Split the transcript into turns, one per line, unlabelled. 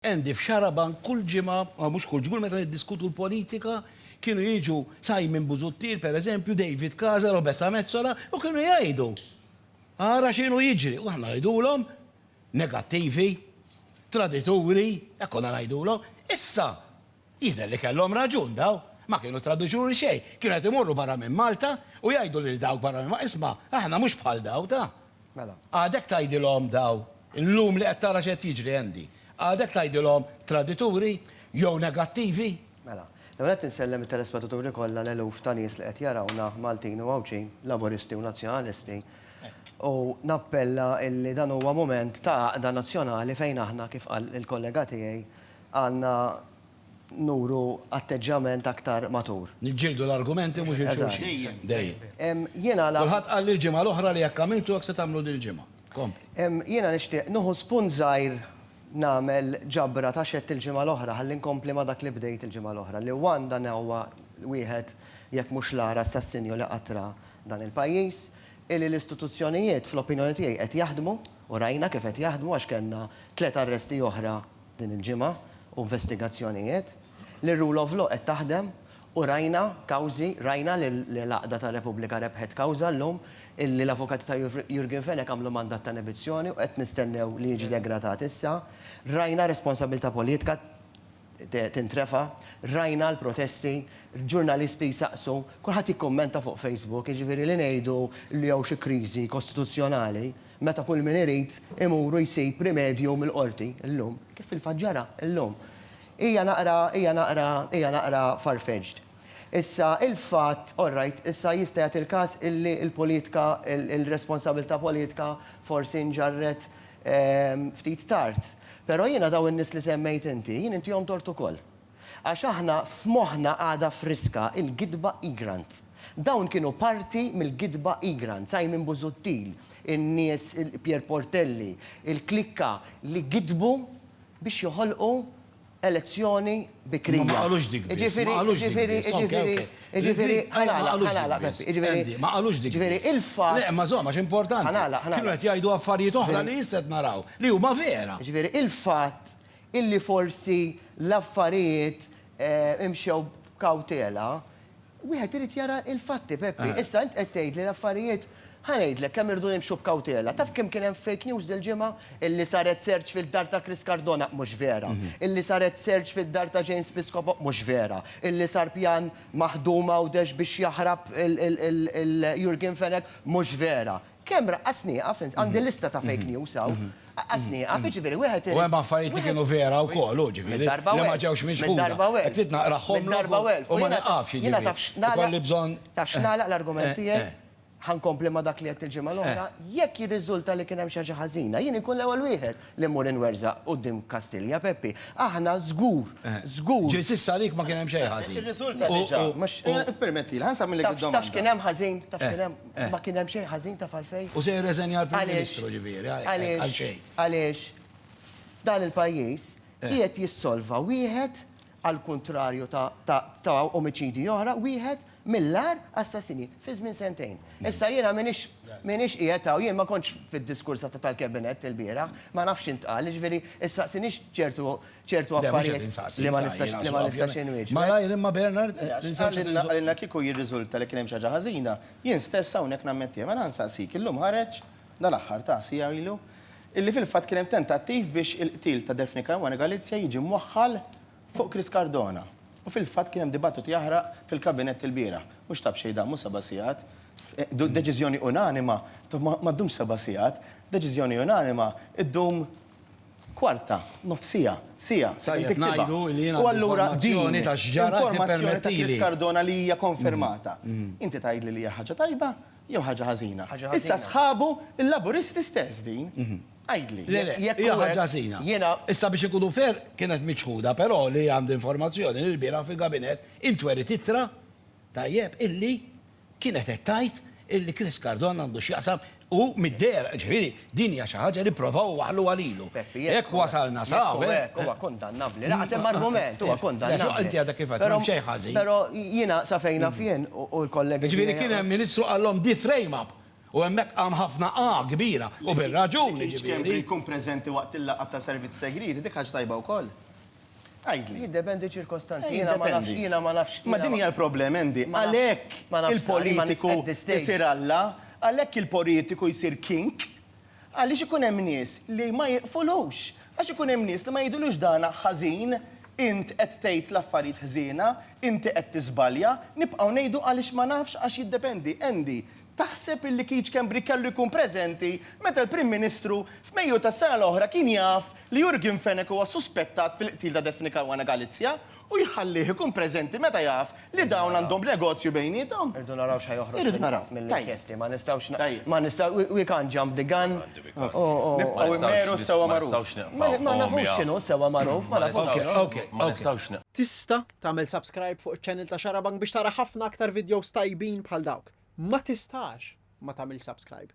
Andy, F'Xarabank kull ġimgħa, aw mhux kull ġmgħa, meta niddiskutu l-politika, kienu jiġu Simon Busuttil, per eżempju, David Casa, Roberta Metsola, u kienu jgħidu, Ara x'inhu jiġri! U aħna ngħidulhom, Negattivi, tradituri, hekk konna ngħidulhom. Issa, Jidher li kellhom raġun daw. Ma kienu traduċuri xejn. Kienu qed imorru barra minn Malta u jgħidu lil dawk barra minn Malta, isma', aħna mhux bħal daw ta'. Mela. Għadek tgħidilhom daw, illum li qed tara x'qed jiġri, Andy, għadek tgħidilhom tradituri jew negattivi? Mela. L-ewwel nett insellem it-telespettaturi kollha, l-eluf ta' nies li qed jarawna, Maltin u Għawdxin, Laburisti u Nazzjonalisti, u nappella illi dan huwa mument ta' għaqda nazzjonali fejn aħna, kif qal il-kollega tiegħi, Għandna nuru atteġġjament aktar matur. Niġġieldu l-argumenti mhux il-xulxin. Dejjem. Jiena la. Kulħadd qalli l-ġimgħa l-oħra li hekk għamiltu hekk se tagħmlu dil-ġimgħa. Kompli. Jiena nixtieq nieħu spunt żgħir nagħmel ġabra ta' x'għedt il-ġimgħa l-oħra ħalli nkompli ma' dak li bdejt il-ġimgħa l-oħra li one dan huwa wieħed jekk mhux l-agħar assassinju li qatt ra dan il-pajjiż illi l-istituzzjonijiet fl-opinjoni tiegħi qed jaħdmu u rajna kif qed jaħdmu għax kellna tliet arresti oħra din il-ġimgħa u investigazzjonijiet, li r-rule of law qed taħdem u rajna kawżi, rajna li l-Għaqda tar-Repubblika rebħet kawża llum, li l-avukati ta' Jurgen Fenech għamlu mandat ta' nebizzjoni u qed nistennew li jiġi degradat issa, rajna responsabbiltà politika tintrefa', rajna l-protesti, ġurnalisti jsaqsu, kulħadd jikkummenta fuq Facebook, jiġifieri li ngħidu li hawn xi kriżi kostituzzjonali, Meta kull min irid imur u jsib rimedju mill-Qorti llum, kif fil-fatt ġara llum. Hija naqra, hija naqra, hija naqra far-fetched. Issa, il-fatt, all right, issa jista' jagħti l-każ illi l-politika, il-responsabilità politika forsi nġarret ftit tard. Però jiena dawn in-nies li semmejt inti, jien intihom tort ukoll. Għax aħna f'moħħna għadha friska l-gidba Egrant. Dawn kienu parti mill-gidba Egrant, Simon Busuttil, in-nies Pier Portelli, il-klikka li gidbu biex joħolqu elezzjoni bikrija. Imma ma qalux dik biss, ma qalux dik biss. Jiġifieri, jiġifieri, jiġifieri, jiġifieri, ħa nagħlaq, ħa nagħlaq Peppi, jiġifieri. Andy, ma qalux dik biss. Jiġifieri il-fatt. Le, imma żomm, għax importanti. Ħa nagħlaq, ħa nagħlaq. Kienu qed jgħidu affarijiet oħra li issa qed naraw li huma vera. Jiġifieri il-fatt illi forsi l-affarijiet imxew b'kawtela, wieħed irid jara l-fatti, Peppi. Issa int qed tgħid li l-affarijiet, ħa ngħidlek kemm irdu jimxu b'kawtela. Taf kemm kien hemm fake news dil-ġimgħa? Illi saret search fid-dar ta' Chris Cardona, mhux vera. Illi saret search fid-dar ta' James Piscopo, mhux vera. Illi sar pjan maħdum Għawdex biex jaħrab il-Jurgen Fenech, mhux vera. Kemm raqqas nieqaf, ins, għandi lista ta' fake news hawn, raqqas nieqaf, jiġifieri wieħed irid. U hemm affarijiet li kienu vera wkoll, hu, ġifieri, li Minn darba u elf. ma ġewx Minn miċħuda. darba u elf. Qed naqrahomlok Minn darba u elf. u ma nieqafx, jiġifieri. Jiena taf x'nagħlaq, Ikolli bżonn. taf x'nagħlaq l-argument Eh, tiegħi? eh. Ħa nkompli ma' dak li għedt il-ġimgħa l-oħra, jekk jirriżulta li kien hemm xi ħaġa ħażina, jien inkun l-ewwel wieħed li mmur inwerżaq quddiem Kastilja, Peppi. Aħna żgur, żgur. Ġieli s'issa għalik ma kien hemm xejn ħażin. Irriżulta diġà, mhux, ippermettili, ħa nsammilek id-domanda. Taf x'kien hemm ħażin, taf x'kien hemm, ma kien hemm xejn ħażin, taf għalfejn? U se jirreżenja l-Prim Ministru, ġifieri, għalxejn. Għaliex, għaliex f'dan il-pajjiż qiegħed jissolva wieħed għall-kuntrarju ta' omiċidji oħra, wieħed mill-agħar assassini fi żmien sentejn. Issa jiena m'iniex m'iniex qiegħed hawn, jien ma kontx fid-diskors tal-Cabinet il-bieraħ, ma nafx x'intqal, jiġifieri issaqsinix ċertu ċertu affarijiet li ma nistax li ma nistax inwieġbek. Malajr imma Bernard, insaqsik. Qalilna kieku jirriżulta li kien hemm xi ħaġa ħażina, jien stess hawnhekk nammettiha. Mela nsaqsik, illum ħareġ, dal-aħħar ta' siegħa ilu, illi fil-fatt kien hemm tentattiv biex il-qtil ta' Daphne Caruana Galizia jiġi mwaħħal fuq Chris Cardona u fil-fatt kien hemm dibattitu jaħraq fil-Kabinett il-bieraħ. Mhux ta' b'xejn damu seba' sigħat. Deċiżjoni unanima ma ddumx seba' sigħat, deċiżjoni unanima ddum kwarta, nofs siegħa, siegħa sakemm tiktibha. U allura din informazzjoni ta' Chris Cardona li hija konfermata. Inti tgħidli li hija ħaġa tajba Jew ħaġa ħażina. Issa sħabu l-Laburisti stess din. Għidli. Le, le, hija ħaġa ħażina. Jiena. Issa biex inkunu fair, kienet miċħuda, però li għandi informazzjoni li lbieraħ fil-Gabinett intweriet ittra, tajjeb, illi kienet qed tgħid illi Chris Cardona għandu x'jaqsam u mid-dehra, ġifieri, Din hija xi ħaġa li provaw iwaħħluha lilu. Jekk wasalna sa hawn. Jekk hu hekk, huwa kundannabbli. Lanqas hemm argument, huwa kundannabbli. Però inti għadek kif għedt, m'hemm xejn ħażin. Però jiena sa fejn naf jien u l-kollegi tiegħi. Jiġifieri kien hemm Ministru qalhom di frame up u hemmhekk qam ħafna A kbira, u bir-raġun jiġifieri. Li Keith Schembri jkun preżenti waqt il-laqgħa ta' servizz segriet, dik ħaġa tajba wkoll. Għidli. Jiddependi ċirkostanzi, jiena ma nafx, jiena ma nafx. Ma din hija l-problem, Andy. Għalhekk il-politiku jsir Alla, għalhekk il-politiku jsir king, għaliex ikun hemm nies li ma jiqfulux. Għax ikun hemm nies li ma jgħidulux dan ħażin, int qed tgħid l-affarijiet ħżiena, inti qed tiżbalja, nibqgħu ngħidu għaliex ma nafx għax jiddependi. Andy, Taħseb illi Keith Schembri kellu jkun preżenti meta l-Prim Ministru f'Mejju tas-sena l-oħra kien jaf li Jurgen Fenech huwa suspettat fil-qtil ta' Daphne Caruana Galizia u jħallih ikun preżenti meta jaf li dawn għandhom negozju bejniethom? Irridu naraw x'ħa joħroġ mill-inkjesti. Ma nistgħux, ma nistgħu, we can't jump the gun u. Nibqgħu immeru sewwa magħruf. Ma nafux x'inhu sewwa magħruf, ma nafux x'inhu. Ma nistgħux nibqgħu. Tista' Tagħmel subscribe fuq iċ-channel ta' Xarabank biex tara ħafna aktar videos tajbin bħal dawk. Ma tistax ma tagħmilx subscribe.